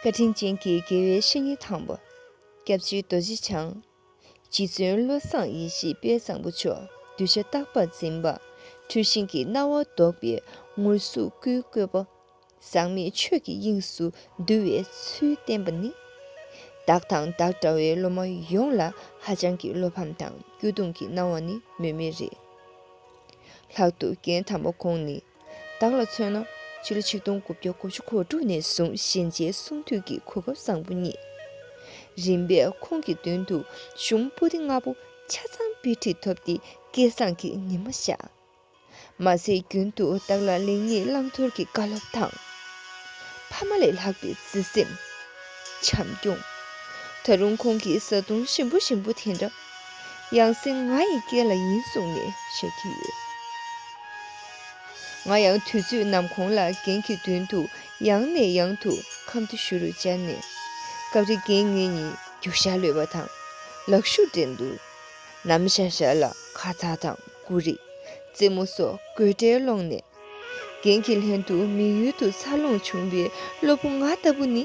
བཀའ་དྲིན་ཅན་གྱི་དགེ་བའི་བཤེས་གཉེན་དང་པོ། སྐྱབས་བཅོལ་རྡོ་རྗེ་འཆང། རྗེ་བཙུན་བློ་བཟང་ཡེ་ཤེས་དཔལ་བཟང་པོ་མཆོག་གདུལ་བྱ་རྟག་པར་འཛིན་པ། འཁྲུལ་ཞེན་གྱི་སྣང་བ་བཟློག་པའི་ངུར་གཟུགས་སྐུའི་བཀོད་པ། ཟག་མེད་ཆོས་ཀྱི་དབྱིངས་སུ་འདུ་བའི་ཚུལ་བསྟན་པ་ནི། བདག་དང་བདག་འདྲ་བའི་སློབ་མ་ཡོངས་ལ་ཧ་ཅང་གི་བློ་ཕམ་དང་སྐྱོ་གདུང་གི་སྣང་བ་ནི་སྨོས་མེད་རེད། ལྷག་ཏུ་རྒན་དམ་པ་ཁོང་ནི། བདག་ལ་མཚོན་ན་ཕྱི་ལོ་ཆིག་སྟོང་དགུ་བརྒྱ་དགུ་ཅུ་གོ་དྲུག་ནས་བཟུང་གཞན་རྗེའི་གསུང་ཐོས་ཀྱི་གོ་སྐབས་བཟང་པོ་རྙེད། རིམ་པས་ཁོང་གི་མདུན་དུ་གཞུང་སྤུ་ཏི་ལྔ་པོ་ཆ་ཚང་དཔེ་ཁྲིད་ཐོབ་སྟེ་སྐལ་བཟང་གི་ཉི་མ་བཞག། མ་ཟད་རྒྱུན་དུ་བདག་ལ་ལེགས་ཉེས་བླང་དོར་གྱི་བཀའ་སློབ་དང། ཕ་མ་ལས་ལྷག་པའི་བརྩེ་སེམས། བྱམས་སྐྱོང། ད་རུང་ཁོང་གི་བཟའ་བཏུང་ཞིམ་པོ་ཞིམ་པོ་དེ་འདྲ། ཡང་སྲིད་ང་ཡི་སྐེ་ལ་ཡིན་གསུངས་ནས་བཤད་ཀྱི་ཡོད། ང་ཡང་དུས་ཚོད་ནམ་གོང་ལ་རྒན་གྱི་མདུན་དུ་ཡང་ནས་ཡང་དུ་ཁམ་དུ་ཞུ་རུ་བཅར་ནས། སྐབས་རེ་རྒན་ངེད་གཉིས་རྒྱུག་ཤ་ལོས་པ་དང། ལག་ཤུགས་འགྲན་འདུར། ནམ་ཞར་ཞར་ལ་ཁ་ཚ་དང་སྐུ་རེ། རྩེད་མོ་སོགས་དགོད་སྒྲའི་ཀློང་ནས། རྒན་གྱི་ལྷན་དུ་མི་ཡུལ་དུ་འཚར་ལོངས་བྱུང་བའི་སློབ་བུ་ང་ལྟ་བུ་ནི།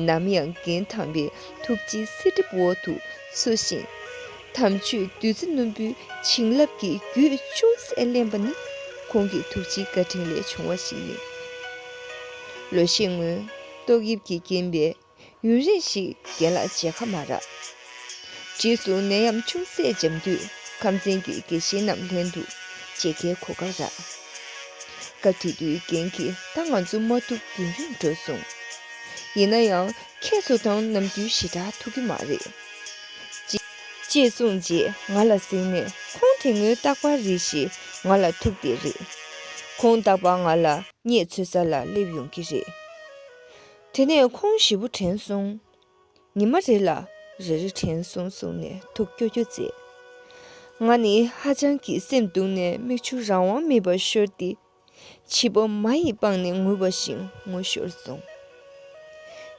ནམ་ཡང་རྒན་དམ་པའི་ཐུགས་རྗེའི་གསེར་གྲིབ་འོག་ཏུ་འཚུད་བཞིན། དམ་ཆོས་བདུད་རྩི་རྣོན་པོའི་བྱིན་རླབས་ཀྱི་རྒྱུད་ཅུང་ཟད་བརླན་པ་ནི་ཁོང་གི་ཐུགས་རྗེའི་བཀའ་དྲིན་ལས་བྱུང་བ་ཞིག་ཡིན། ལོ་ཤས་སྔོན་ཏོག་དབྱིབས་ཀྱིས་རྐྱེན་པས། ཡུན་རིང་ཞིག་རྒན་ལགས་བྱས་ཁ་མ་རག། རྗེས་སུ་ནད་ཡམས་ཅུང་ཟད་འཇམ་དུས་ཁམས་ཚན་གྱི་དགེ་བཤེས་རྣམས་ལྷན་དུ་བཅས་ཁའི་གོ་ཁ་རག། སྐབས་དེ་དུས་རྒན་གྱིས་ད་ང་ཚོ་མ་ཐུབ་ཡུན་རིང་འགྲོ་གསུངས། ཡིན་ན་ཡང་ཁྱེད་ཚོ་དང་ནམ་རྒྱུན་ཞེ་དྲག་ཐུག་གི་མ་རེད། ཅེས་གསུངས་རྗེས་ང་ལ་གཟིགས་ནས་ཁོང་དེ་སྔོན་རྟག་པར་རིགས་ཞེས་ང་ལ་ཐུག་སྟེ་རེད། ཁོང་རྟག་པར་ང་ལ་བརྙས་ཚོད་ས་ལ་སླེབས་ཡོང་གི་རེད། དེ་ནས་ཁོང་བཞི་པོ་དྲན་སོང། ཉི་མ་རེ་ལ་རེ་རེ་དྲན་སོང་གསུངས་ནས་ཐུགས་སྐྱོ་སྐྱོ་མཛད། ང་ནི་ཧ་ཅང་གིས་སེམས་སྡུག་ནས་མིག་ཆུ་རང་དབང་མེད་པར་ཤོར་ཏེ། བྱིས་པ་མ་ཡི་པང་ནས་ངུ་བ་བཞིན་ངུ་ཤོར་སོང།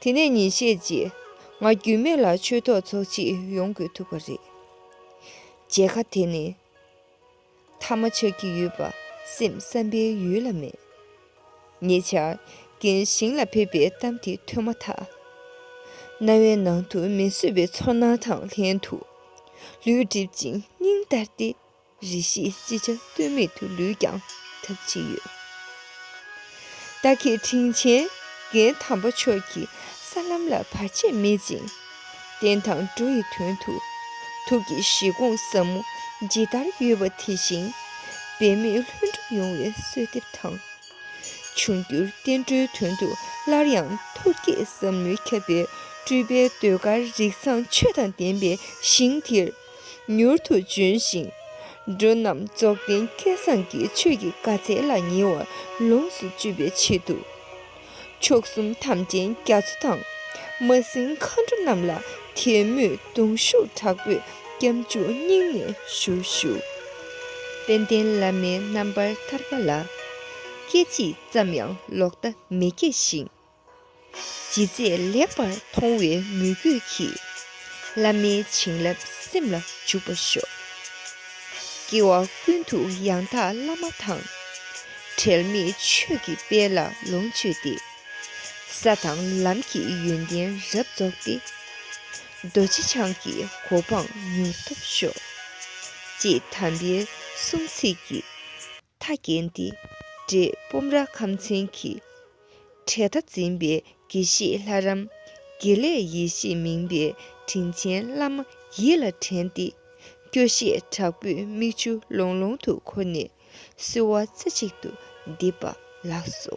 དེ་ནས་ཉིན་ཤས་རྗེས་ང་རྒྱུས་མེད་ལ་ཆོས་ཐོག་ཚོགས་ཆེད་ཡོང་དགོས་ཐུག་པ་རེད། མཇལ་ཁ་དེ་ནི་ཐ་མ་ཆགས་ཀྱི་ཡོད་པ་སེམས་བསམ་པའི་ཡུལ་ལ་མེད། ཉེ་ཆར། རྒན་ཞིང་ལ་ཕེབས་པའི་གཏམ་དེ་ཐོས་མ་ཐག། རྣ་བའི་ནང་དུ་མི་བཟོད་པའི་ཚོར་སྣང་དང་ལྷན་དུ། ལུས་བསྒྲིབས་ཅིང་སྙིང་ལྟར་ཏེ། རེ་ཞིག་ཅི་བྱ་གཏོལ་མེད་དུ་ལུས་ཀྱང་འཐབ་ཀྱི་ཡོད། རྟ་ཁེ་དྲིན་ཆེན་རྒན་དམ་པ་མཆོག་གི་ས་ལམ་ལ་བར་ཆད་མེད་ཅིང། བདེན་དང་སྒྲོ་ཡི་དོན་དུ། ཐུགས་ཀྱི་བཞེད་དགོངས་ཟབ་མོ་ཇི་ལྟར་ཡོད་པ་དེ་བཞིན། འབད་མེད་ལྷུན་གྲུབ་ཡོང་བའི་གསོལ་འདེབས་དང། འབྱུང་འགྱུར་བསྟན་འགྲོའི་དོན་དུ་སླར་ཡང་ཐུགས་བསྐྱེད་ཟབ་མོས་ཁྱབ་པའི་སྤྲུལ་པའི་ཟློས་གར་རིགས་བཟང་ཆོས་དང་ལྡན་པའི་ཞིང་འདིར་མྱུར་དུ་འབྱོན་ཞིང། འགྲོ་རྣམས་རྫོགས་ལྡན་སྐལ་བཟང་གི་ཆོས་ཀྱི་དགའ་ཚལ་ལ་ཉེ་བར་ལོངས་སུ་སྤྱོད་པའི་ཆེད་དུ། མཆོག་གསུམ་དམ་ཅན་རྒྱ་མཚོ་དང། མ་སྲིང་མཁའ་འགྲོ་རྣམས་ལ་དད་མོས་གདུང་ཤུགས་དྲག་པོས་སྐྱབས་འཇུག་སྙིང་ནས་ཞུ་ཞུ། དཔལ་ལྡན་བླ་མའི་རྣམ་པར་ཐར་པ་ལ། སྐད་ཅིག་ཙམ་ཡང་ལོག་ལྟ་མི་སྐྱེ་ཞིང། ཇི་མཛད་ལེགས་པར་མཐོང་བའི་མོས་གུས་ཀྱིས། བླ་མའི་བྱིན་རླབས་སེམས་ལ་འཇུག་པར་ཤོག། སྐྱེ་བ་ཀུན་ཏུ་ཡང་དག་བླ་མ་དང། བྲལ་མེད་ཆོས་ཀྱི་དཔལ་ལ་ལོངས་སྤྱོད་དེ། ས་དང་ལམ་གྱི་ཡོན་ཏན་རབ་རྫོགས་ཏེ། རྡོ་རྗེ་འཆང་གི་གོ་འཕང་མྱུར་ཐོབ་ཤོག། ཅེས་དམ་པའི་གསུང་ཚིག་གིས། མཐའ་བརྒྱན་ཏེ་འབྲས་སྤུངས་ར་ཁམ་ཚན་གྱི། གྲལ་མཐའ་འཛིན་པའི་དགེ་བཤེས་ལྷ་རམས། དགེ་ལེགས་ཡེ་ཤེས་མིང་པའི་དྲིན་ཆེན་བླ་མ་ཡིད་ལ་དྲན་ཏེ། སྐྱོ་ཤས་དྲག་པོས་མིག་ཆུ་ལོང་ལོང་དུ་ཁོ་ནས་གསོལ་བ་རྩེ་གཅིག་ཏུ་འདེབས་པ་ལགས་སོ།